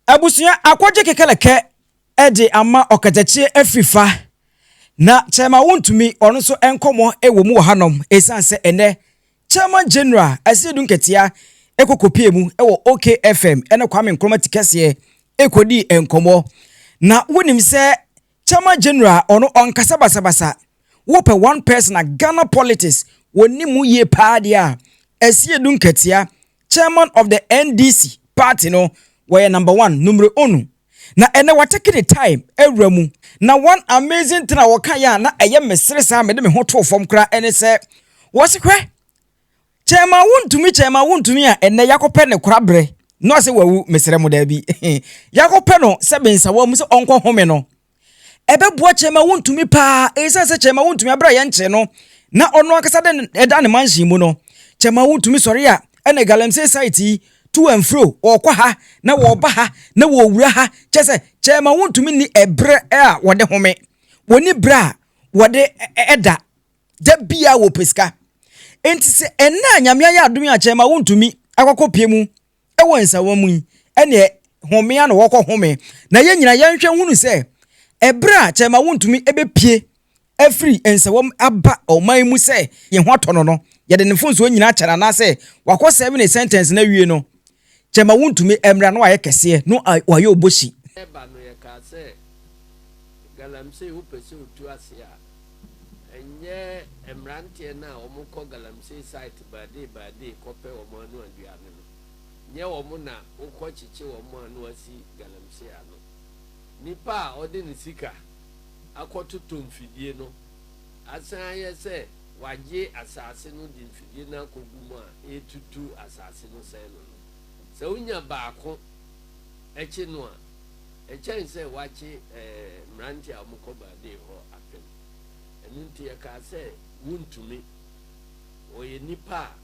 Abusua akɔgye kekelekɛ de ama ɔkatakyiɛ afiri fa na kyɛɛma wontumi ɔno nso nkɔmɔ wɔ mu wɔ hanom ɛsiane sɛ ɛnɛ kyɛɛma general Asiedu Nketia ɛkɔ kɔpie mu wɔ OK FM ɛne Kwame Nkrumah tikɛseɛ ɛkɔdii nkɔmɔ na wonim sɛ Chairman General ɔno ɔnkasa basabasa wopɛ one person a Ghana politics wɔnim mu yie paa deɛ a Asiedu Nkɛtea Chairman of the NDC party no wɔyɛ number one numero uno na ɛnɛ watake ne time awura mu na one amazing thing a ɔkaeɛ a na ɛyɛ mesere saa mede me ho too fam koraa ɛne sɛ wɔse hwɛ Kyɛ ma wontumi, kyɛ ma wontumi a ɛnnɛ yɛakɔpɛ ne korabrɛ na ɔsɛ wawu, mesrɛ mo daabi. yɛakɔpɛ no sɛ bensawa mu sɛ ɔnkɔ home no. Ɛbɛboa kyɛ ma wontumi paa, ɛsiane sɛ kyɛ ma wontumi abra yɛn nkyɛn no, na ɔno ankasa de ɛda ne mansion mu no. Kyɛ ma wontumi sɔre a ɛna galamsey site yi tu amfuro, wɔkɔ ha na wɔba ha na wɔwura ha, kyɛ sɛ kyɛ ma wontumi ni ɛbrɛ a wɔde home, wɔni brɛ a wɔde ɛda da biara wɔpɛ sika. Enti sɛ ɛnnɛ a Nyame ayɛ adom yɛ akyɛ ma wontumi akɔkɔpie mu wɔ nsawa mu yi, ɛneɛ homea na wɔkɔ home. Na yɛn nyina yɛnhwɛ hunu sɛ, ɛberɛ a kyɛ ma wontumi ɛbɛpie afiri nsawa mu aba ɔman mu sɛ yɛn ho atɔ no no, yɛde ne mfonsoɔ nyina akyɛ no anaasɛ wakɔ sɛve ne sentence no awie no, Kyɛma wontumi mmra na wayɛ kɛseɛ no wayɛ obosi. Ɛba no yɛkaa sɛ galamsey wopɛ sɛ otu ase a ɛnyɛ mmeranteɛ no a wɔn kɔ galamsey site birthday birthday kɔpɛ wɔn ano aduane no nyɛ wɔn na wokɔ kyekye wɔn a na wasi galamsey ano nipa a ɔde ne sika akɔ totɔ mfidie no asan ayɛ sɛ wɔagye asase no de mfidie no akɔgu mu a ɛretutu asase no sɛe no no. Sɛ wonya baako kye no a, ɛkyɛn sɛ wɔakye mmeranteɛ a wɔkɔ Baabee hɔ apem. Ɛno nti yɛkaa sɛ, Wontumi. Ɔyɛ nipa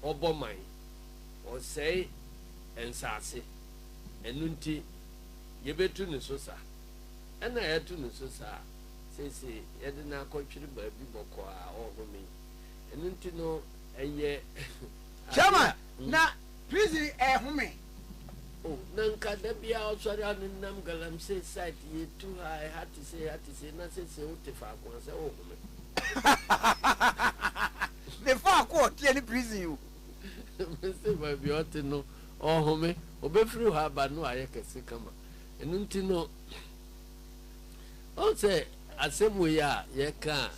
a ɔbɔ man. Ɔsɛe nsase. Ɛno nti yɛbɛtu ne so sa. Ɛnna yɛato ne so sa a, Seesei yɛde no akɔtwere baabi bɔkɔɔ a ɔrehome. Ɛno nti no, ɛyɛ ade a. Chairman, Na prison rehome. Oh, na nka da biara ɔsɔre a no nam Galamsey site yi, tu ha, ɛha te sei, ɛha te sei, na seesei wote faako a sɛ worehome. Me faako a ɔteɛ ne prison o. Me se baabi a ɔte no, ɔrehome. Ɔbɛfiri hɔ aba no ayɛ kɛse kama. Ɛno nti no. Ɔn sɛ asɛm wei a yɛka a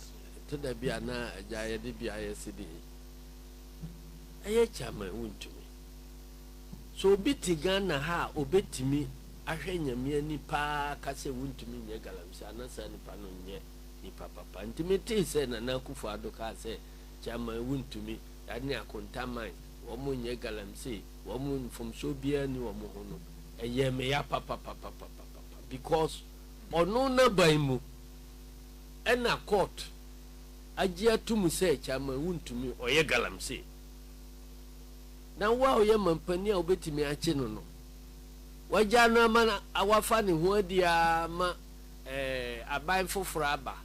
ɛtɔ da bi a na agya yɛde bi ayɛ sede yi ɛyɛ kya ma wontumi. So obi te Ghana ha a obetumi ahwɛ Nyame ani paa aka sɛ wontumi nyɛ galamsey a na saa nipa no nyɛ nipa papa. Nti me tee sɛ Nana Akufo Addo kaa sɛ kya ma wontumi, that ne akonta man, wɔn nyɛ galamsey, wɔn mfomsoɔ biara nni wɔn ho no ɛyɛɛ me ya papapapapapapa. Because ɔno n'aban mu ɛna court agye atom sɛ Chairman wontumi, ɔyɛ galamsey. Na wo a woyɛ manpanin a wobɛtumi akye no no, wagyaa no ama wafa ne ho adi ara ma ɛɛ aban foforɔ aba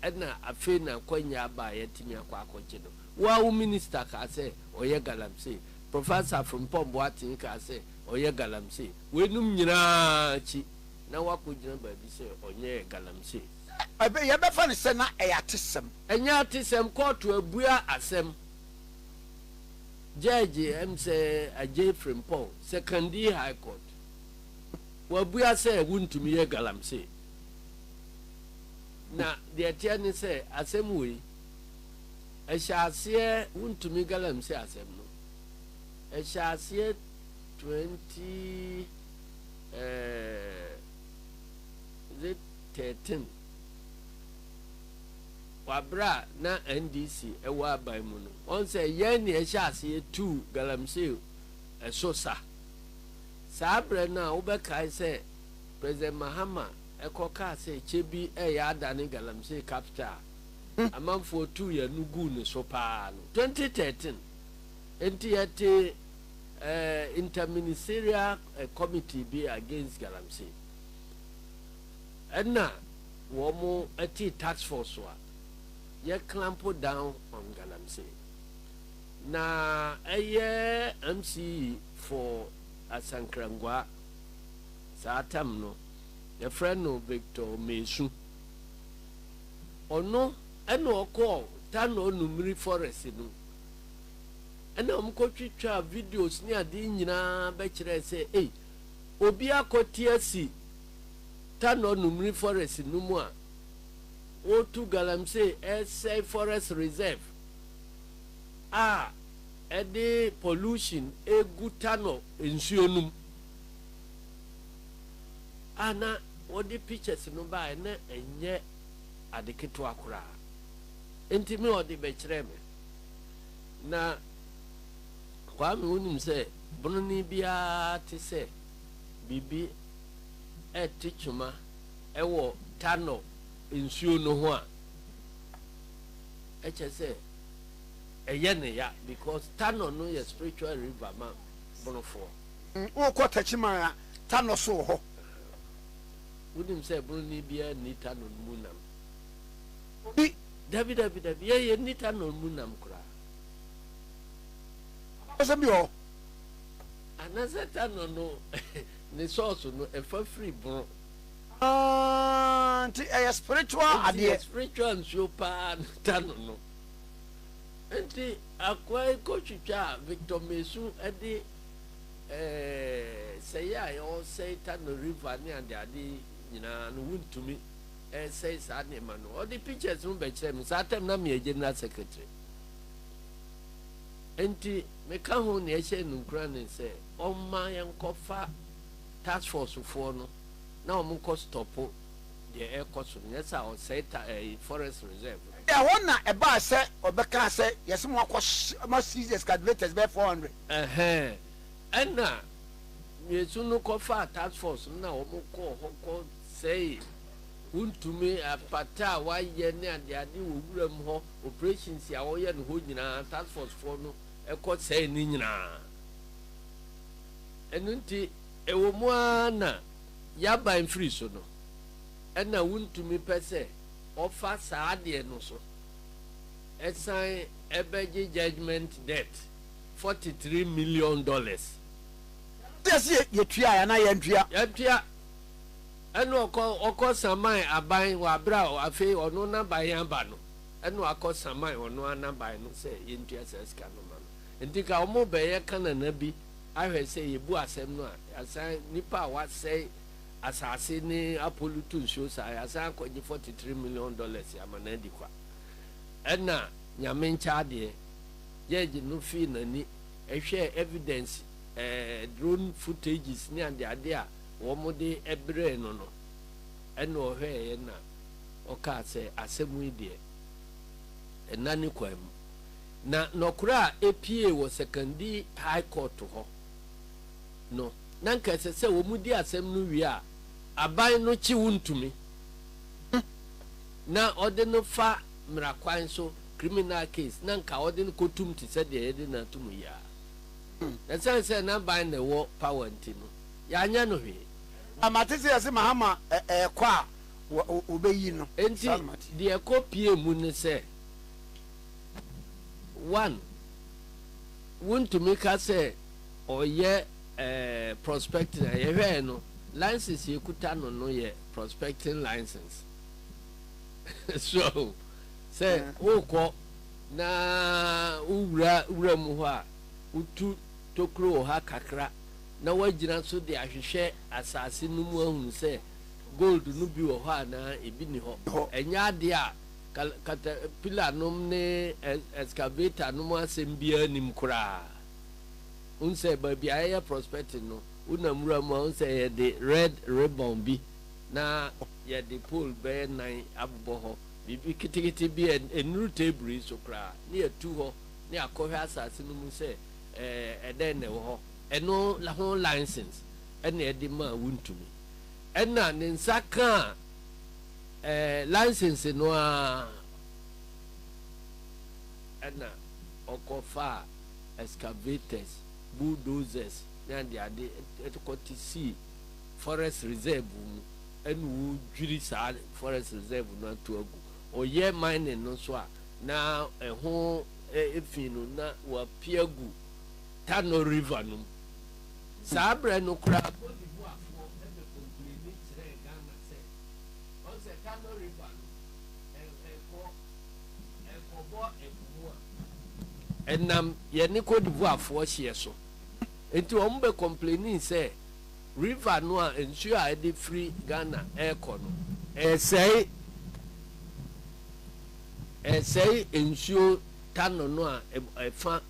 ɛna afei na akwannya aba a yɛatumi akɔ akɔkye no. Wo ara wo minister kaa sɛ ɔyɛ galamsey. Professor Frimpong Boateng kaa sɛ ɔyɛ galamsey. Weinom nyinaa akyi na wakogyina baabi sɛ ɔnyɛ galamsey. Ɛbɛ, yɛbɛfa no sɛ na ɛyɛ atesɛm. Ɛnyɛ atesɛm, kɔɔto abua asɛm. Judge Msɛ Adjei Frimpong, Sekondi High Court, wabua sɛ wontumi yɛ galamsey. Na deɛ ɛteɛ ne sɛ asɛm wei, ɛhyɛ aseɛ, wontumi galamsey asɛm no, ɛhyɛ aseɛ. twenty ɛɛɛ is it thirteen wɔ bere a na NDC wɔ aban mu no wɔn sɛ yɛn na yɛhyɛ aseɛ tuu galamsey ɛso sa saa berɛ no a wobɛkae sɛ President Mahama ɛkɔ kaa sɛ kyɛ bi ɛyɛ adane galamsey capital a amanfoɔ tuu yɛn no guu ne so paa no twenty thirteen. Enti yɛtee eh, Inter-Ministerial eh, Committee bi against galamsey. Ɛna wɔn ɛtee tax force a yɛ clamp down on galamsey. Na ɛyɛ MCE for Asankrangwa saa tam no, yɛfrɛ no Victor Mesu. Ɔno ɛna ɔkɔɔ Tano Numiri forest no ɛna wɔn kɔ twitwaa videos ne adeɛ nyinaa bɛkyerɛɛ sɛ ei obi akɔte asi Tanor Numri forest no mu a wɔretu galamsey ɛresɛe forest reserve a ɛde pollution ɛregu Tanor nsuo no mu a na wɔde pictures no baeɛ na ɛnyɛ ade ketewa koraa nti me wɔde bɛkyerɛɛ me. Na Kwame, wonim sɛ bononi biara te sɛ biribi rete twoma wɔ Tano nsuo no ho a, ɛkyɛ sɛ ɛyɛ no ya because Tano no yɛ spiritual river ma bonofoɔ. Wokɔ Techiman a, Tano so wɔ hɔ. Wonim sɛ bononi biara nni Tano no mu nam. Obi, Dabi, dabi, dabi, yɛ yɛ nni tanɔn mu nam koraa. Abakɔsɛm bi wɔ hɔ. Anasɛ tanɔn no ne sɔɔso no ɛfa firi bono. Aah, nti ɛyɛ spiritual adeɛ. Nti yɛ spiritual nsuo paa ne tanɔn no. Nti akoa yi kɔ twitwa a Victor Mesu ɛde eh, sɛyɛ a ɔsɛe tanɔn river ne adeade nyinaa no wontumi. ɛresɛe saa nneɛma no. Ɔde pictures no bɛkyerɛɛ me. Saa time na meyɛ general secretary. Nti meka ho nea ɛhyɛ no nkura ne sɛ ɔmma yɛnkɔfa task force foɔ no na wɔn nkɔ stɔpo deɛ ɛrekɔ so no. Nyɛ sɛ ɔsɛe ta ɛɛ eh, forest reserve no. Ɛhɔ na ɛbaa sɛ ɔbɛkaa sɛ yɛse mo akɔ mo seize excavators bɛyɛ four hundred. Ɛhɛn, ɛna mmiɛnsu no kɔfaa task force no na wɔn kɔɔ hɔ kɔ sɛe, wo ntumi, apata a wɔayɛ ne adeade wɔ wuram hɔ, operations a wɔyɛ no hɔ nyinaa, task force foɔ no kɔ sɛe ne nyinaa. Ɛno nti, ɛwɔ mu ara na y'aban firi so no, ɛna wo ntumi pɛ sɛ ɔfa saa adeɛ no so, ɛsan ɛbɛgye judgement debt forty three million dollars. Yɛ se yɛ tuaɛ anaa yɛntua? Yɛtua. Ɛna ɔkɔ ɔkɔ saman aban wɔ abere a afei ɔno n'aban yɛ aba no ɛna wakɔ saman ɔno ara n'aban no sɛ yɛntua saa sika no ma no nti ka ɔmo bɛ yɛ ka nana bi ahwɛ sɛ yɛ bu asɛm no a yasan nipa a wasɛe asaase ne apolu tu nsuo saa yasan akɔ gye 43 million dollars ama na adi kwa ɛna nyame nkyɛ adeɛ judge no fii n'ani ɛhwɛ evidence ɛɛ drone footages ne adeade a wɔde brɛɛ no no, ɛnna ɔhwɛeɛ na ɔkaa sɛ, Asɛm yi deɛ, ɛnna ne kwan mu. Na nɔkorɛ a ɛpuee wɔ Sekandi High Court hɔ no, na anka ɛsɛ sɛ wɔdi asɛm no wie a aban no kye wo ntumi hu na ɔde no fa mmara kwan so, criminal case, na anka wɔde no kɔtom te sɛ deɛ yɛde no atom yi ara. Na ɛsiane sɛ na aban na ɛwɔ power nti no, yɛanyɛ no hwee. Na mate sɛ yɛse Mahama ɛɛkɔ a wɔbɛyi no. Enti deɛ ɛkɔ pie mu ne sɛ, one, wontumi ka sɛ ɔyɛ prospecting a, yɛhwɛɛ no, license yɛkuta no no yɛ prospecting license. So ahu? Sɛ wokɔ na wowura wuram hɔ a, wotu tokuro wɔ ha kakra, na wɔagyina so de ahwehwɛ asase no mu ahunu sɛ gold no bi wɔ hɔ anaa ebi nni hɔ. Ɛnyɛ ade a katapillarnom ne excavatornom asɛm biara nnim koraa. Wohu sɛ baabi a yɛyɛ prospecting no, wonam nwura mu a, wohu sɛ yɛde red ribbon bi na yɛde pole bɛyɛ nnan abobɔ hɔ, biribi ketekete bi a ennuru table yi so koraa, na yɛatu hɔ na yɛakɔhwɛ asase no mu sɛ ɛdɛn na ɛwɔ hɔ. Ɛno ho license na ɛde maa wo ntumi. Ɛna ne nsa kaa ɛɛ license no ara ɛna ɔkɔ faa excavators, bulldozers ne ade ade ɛde kɔ te sii forest reserve mu ɛna ɔredwiri saa forest reserve no ato agu. Ɔyɛ mining no nso a na ɛho ɛɛ fii no na wapia gu. Tano River no mu. Saa berɛ no koraa Côte d'Ivoirefoɔ de kɔmpleni kyerɛɛ Ghana sɛ, wɔn sɛ Tano River no ɛrekɔ ɛrekɔbɔ ɛpo mu a, ɛnam yɛne Côte d'Ivoirefoɔ hyeɛ so. Enti wɔn bɛ kɔmplenii sɛ River no a nsuo a ɛde firi Ghana ɛrekɔ no, ɛresɛe ɛresɛe nsuo Tano no a ɛfa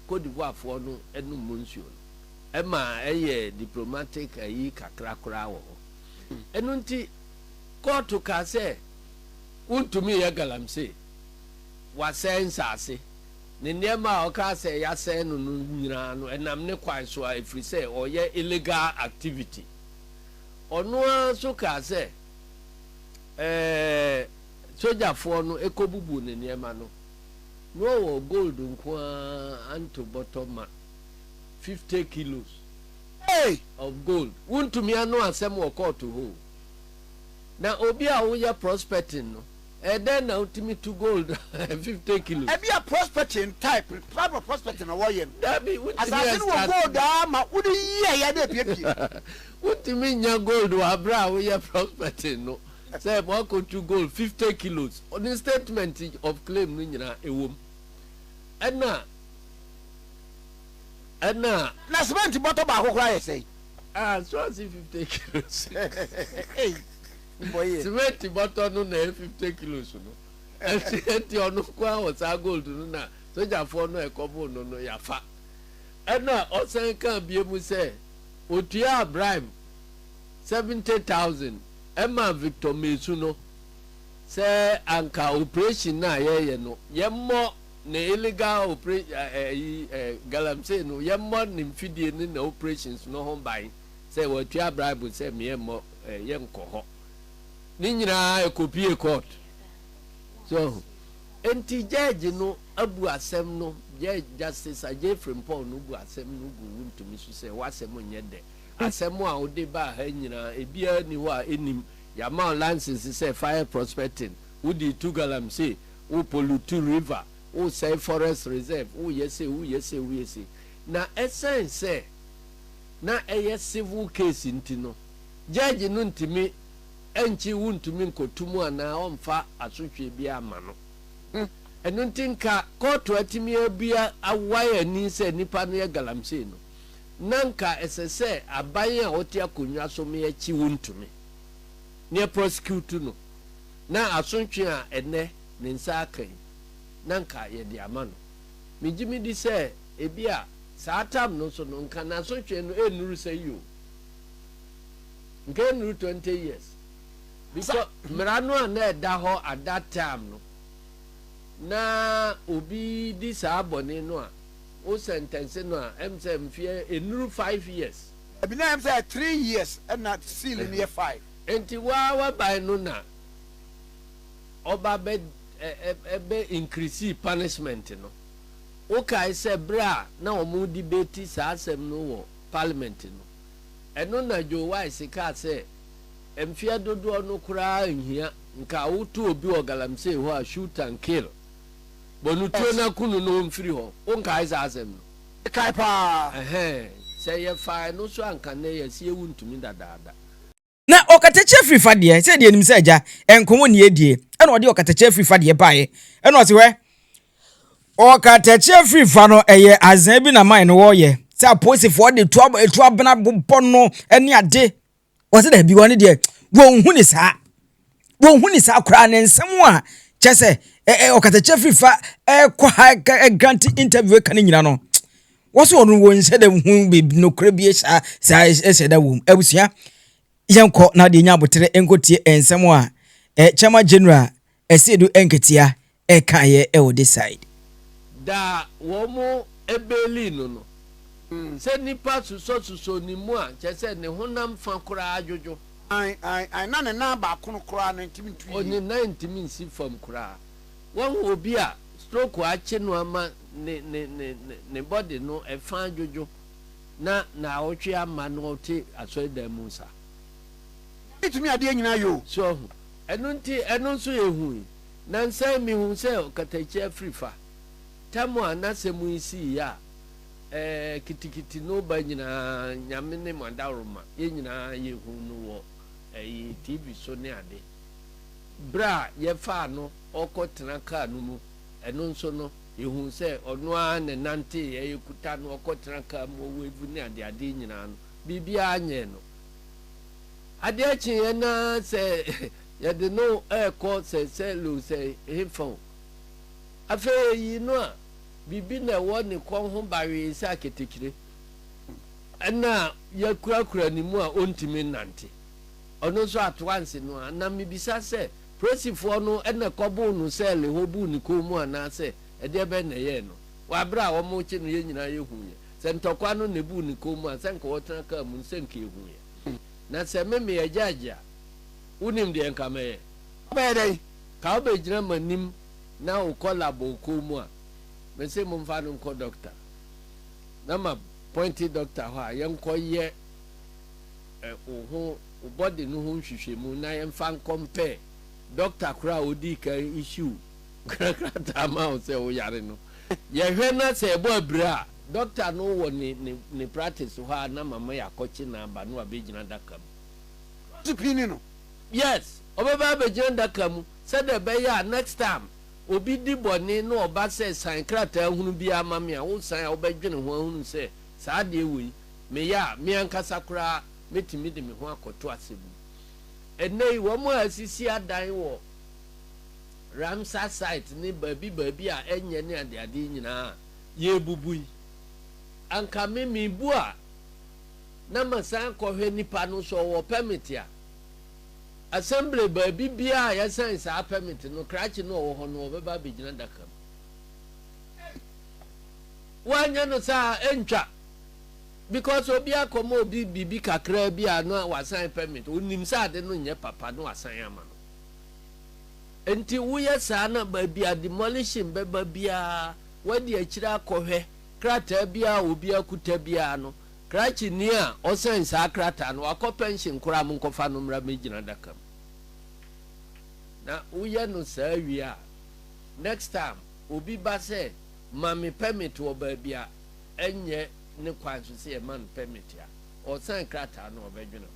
Côte d'Ivoire foɔ no nom mo nsuo no ɛma ɛyɛ diplomatic ayi kakra koraa wɔ hɔ ɛno nti kɔɔto kaa sɛ wontumi yɛ galamsey wasɛe nsaase ne nneɛma a ɔkaa sɛ yasɛe no no nyinaa no ɛnam ne kwan so a ɛfiri sɛ ɔyɛ illegal activity ɔno ara nso kaa sɛ ɛɛ sogyafoɔ no ɛkɔbubu ne nneɛma no. na ɔwɔ gold nko ara anto bɔtɔ ma, fifty kilos Hey! of gold. Wontumi ano asɛm wɔ kɔɔto hɔ o. Na obi a woyɛ prospecting no, ɛdɛn na wotumi to gold fifty kilos? Ebia prospecting type type of prospecting na wɔyɛ no. Dabi, wontumi ɛstarte no. Asase no wɔ gold a ama wode yiaeɛ na apiapie. Wontumi nnya gold wɔ abere a woyɛ prospecting no. Sɛ wɔakɔtu gold fifty kilos, ne statement of claim no nyinaa ɛwɔ mu. Ɛna, ɛna. Na cement bɔtɔ baako koraa yɛ sɛn? Ah, so ase fifty kilos. Ei, wo bɔ yɛ. Cement bɔtɔ no na ɛyɛ fifty kilos no. Ɛnti, ɛnti ɔno nko ara wɔ saa gold no na sogyafoɔ no a ɛkɔboo no no yɛafa. Ɛna ɔsan kaa bio mu sɛ, ɔtuaa bribe. seventy thousand ɛmaa Victor Mesu no sɛ anka operation no a yɛyɛ no yɛmmɔ ne illegal opera ɛ ɛyi ɛ galamsey no yɛmmɔ ne mfidie ne na operations no ho ban sɛ watua bribe sɛ meyɛmmɔ ɛ yɛnkɔ hɔ ne nyinaa ɛkɔpie court so enti judge no abu asɛm no judge justice Ajay Frimpong no bu asɛm no gu wo ntumi so sɛ w'asɛm nyɛ dɛ Asɛm a wode baa ha nyinaa, ebiara nni hɔ a ennim. Yɛama wo license sɛ fa yɛ prospecting. Wodii Tugalam sei, wo pollute river, wosɛe forest reserve, woyɛ sei, woyɛ sei, woyɛ sei. Na ɛsiane sɛ na ɛyɛ civil case nti no, judge no ntumi nkye wo ntumi nkoto mu anaa ɔmfa asotweɛ biara mma no. Ɛno nti nka kɔɔto atumi abua, awae ani sɛ nipa no yɛ galamsey no, na anka ɛsɛ sɛ aban a ɔte akonnwa so me akyi wo ntumi ne ɛprɔsekutu no na asotwe a ɛnnɛ ne nsa aka yi na anka yɛde ama no. Megye me di sɛ ebia saa tam no so no nka n'asotwe no ɛnnuru sɛ yi o. Nka ɛnnuru twenty years because mmara no a na ɛda hɔ at that time no na obi di saa bɔne no a Wo sɛntɛnse no a ɛm sɛ mfeɛ ɛnuru five years. Dabi na ɛm sɛ ɛyɛ three years ɛna seal no yɛ five. Ɛnti wo ara w'aban no na ɔba bɛ ɛbɛ increase punishment no. Wo kae sɛ berɛ a na wɔn debate saa asɛm no wɔ parliament no ɛno na Joe Wise kaa sɛ mfeɛ dodoɔ no koraa nhia nka wo to obi wɔ galamsey hɔ a shoot and kill. Bɔ no tuo na ku no na ɔmfiri hɔ. Wonkae saa asɛm no? Mekae paa. Ɛhɛn, sɛ yɛfaa ɛno so a anka nnɛ yɛse ewu ntumi dadaada. Na ɔkatakyie afiri fa deɛ, sɛdeɛ yɛnim sɛ agya nko wo nni adie, ɛna ɔde ɔkatakyie afiri fa deɛ baeɛ. Ɛna ɔse hwɛ, ɔkatakyie afiri fa no ɛyɛ azaa bi na man no wɔyɛ, sɛ apolisifoɔ de tuo abena bobɔ no ne ade. wɔsɛ daabi wɔn deɛ wɔnhu ne saa wɔnhu ne saa koraa ne nsɛm a kyɛ sɛ ɛɛ ɔkatakyɛ firifa ɛɛkɔ ha ɛgranti interview ɛka ne nyina no wɔsɛ wɔn wɔn nhyɛ dɛm hu beebi nokorɛ bi saa saa ɛhyɛ da wɔm abusua yɛn kɔ na deɛ nya abotire nkotie nsɛm a ɛɛ chairman general ɛsɛ do nketeɛ ɛkaeɛ wɔ this side. Da a wɔn beelii no no, sɛ nipa susɔ susɔ ne mu a kyerɛ sɛ ne honam fa koraa adwodwo. Ae ae ae na ne nan baako no koraa no ntumi ntu yie. Ne nan ntumi nsi fam koraa. Wahu obi a stroke akye no ama ne ne ne ne ne body no ɛfa adwodwo na naawɔtwe ama na ɔte asɔredan mu saa. Nyame tumi adeɛ nyinaa yɛ o. So wahu? Ɛno nti ɛno nso yɛ hui. Nnansa yi mihuu sɛ ɔkatakyie afiri fa. Tam a n'asɛm yi sii yɛ a, ɛɛ, kitikiti no ba nyinaa, Nyame ne mo adaworoma. Yɛn nyinaa yɛhuu no wɔ, ɛyi, TV so ne ade. Berɛ a yɛfaa no ɔrekɔtena kaa no mu, ɛno nso no, yɛhuu sɛ ɔno ara na ɛnanteeɛ, yɛkuta no, ɔkɔtena kaa mu, ɔwave ne adeadeɛ nyinaa no, biribiara nyɛɛ no. Adeɛ kyeeɛ no ara sɛ, Yɛde no rekɔ sɛnsɛn-lonsɛn hefa o? Afei eyi no a, biribi na ɛwɔ ne kɔn ho bawee sɛ aketekyire. Ɛna a yɛakurakura ne mu a ɔntumi nnante. Ɔno nso atoanse no ara. Na mebisa sɛ, polisifoɔ no na ɛkɔboo no sɛɛle hɔ buu ne kɔn mu anaasɛ ɛdeɛ bɛn na ɛyɛɛ no? Wɔ berɛ a wɔrekye no yɛn nyinaa yɛhuiɛ. Sɛ ntɔkwa no na ɛbuu ne kɔn mu a, sɛ anka wɔtena kaa mu no, sɛ anka yɛhuiɛ. Na sɛ me, meyɛ gyɛɛgye a, Wonim deɛ nka mɛyɛ? Wobɛyɛ dɛn? Ka wobɛgyina m'anim na wokɔ lab wɔ kuo mu a, mese momfa no nkɔ dɔkta. Na ma pɔinte dɔkta hɔ a yɛnkɔ yɛ ɛ wo ho wo body no ho nhwehwɛmu na yɛmfa nkɔmpɛɛ dɔkta korɔ a ɔdii kan issue krataa maa wo sɛ woyare no. Yɛhwɛ na sɛ ɛbɔ abira a, dɔkta no wɔ ne ne ne practice hɔ a na mama yɛakɔkye no aba na wabɛgyina adaka mu. tipini no. Yes, ɔbɛba abɛgyina adaka mu sɛdeɛ ɛbɛyɛ a next time obi di bɔne na ɔba sɛ san krataa hunu biara ma me a, wo san a wobɛdwene ho ahunu sɛ saa adeɛ wei meyɛ a, me ankasa koraa mɛtumi de me ho akɔto asɛm mu. Ɛnnɛ yi wɔn a asisi adan wɔ Ramsar site ne baabi baabi a ɛnyɛ ne adeade yi nyinaa a yɛrebubu yi, anka me mebu a, na masan kɔhwɛ nipa no sɛ ɔwɔ pɛmit a, Assembly baabi biara a yɛasain saa pɛmit no, krakye no a ɔwɔ hɔ no, ɔbɛba abɛgyina adaka mu. Ei! Woanyɛ no saa a, ɛntwa. Because obi akɔma obi biribi kakraa bi a na wasain pɛmit, ɔnim sɛ ade no nyɛ papa na wasan ama no. Enti woyɛ saa na baabi a demolition bɛba biara, woadi akyire akɔhwɛ, krataa biara a obi akuta biara no, Krakyenyi a ɔsɛɛn saa krataa no, ɔakɔ pɛnhyen kor a monkɔfa no mbra m'egyina daka mu. Na woyɛ no saa wie a, next time obi ba sɛ ma me permit wɔ baabi a ɛnnyɛ ne kwan so sɛ yɛma no permit a, ɔresɛɛn krataa no a ɔbɛdwen ho.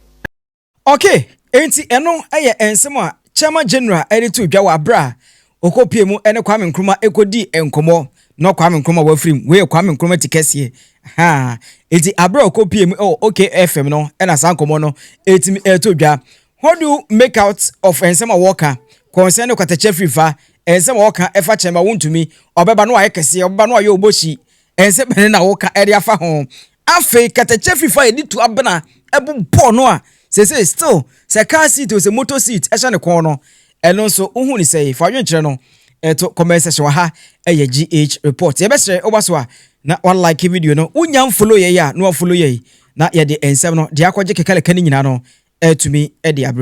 Ok, enti ɛno yɛ nsɛm a Chairman General de too dwa wɔ aberɛ a ɔkɔpuee mu ne Kwame Nkrumah kɔdii nkɔmmɔ na Kwame Nkrumah wafiri mu. Wei yɛ Kwame Nkrumah ti kɛseɛ. Ahaa, enti aberɛ a ɔkɔpuee mu wɔ OK FM no na saa nkɔmmɔ no tumi too dwa. What do you make out of nsɛm a wɔka concerning Kwata Kyafrifa? Nsɛm a wɔka fa Chairman Wontumi, ɔbɛba na wayɛ kɛseɛ, ɔbɛba na wayɛ ɔbɔhyi, Nsɛm bɛn na woka de afa ho? Afei kɛtɛkyɛ fifa a yɛde tu abena bobɔ no a seesei still sɛ car seat o sɛ motor seat hyɛ ne kɔn no, ɛno nso wohu ne sɛe? Fa adwenkyerɛ no to comment section wɔ ha. Ɛyɛ GH report. Yɛbɛsrɛ woba so a na wa like video no. Wonya mfollow yɛn a na wa follow yɛn na yɛde nsɛm no de akɔgye kekaleka no nyinaa no atumi de abrɛ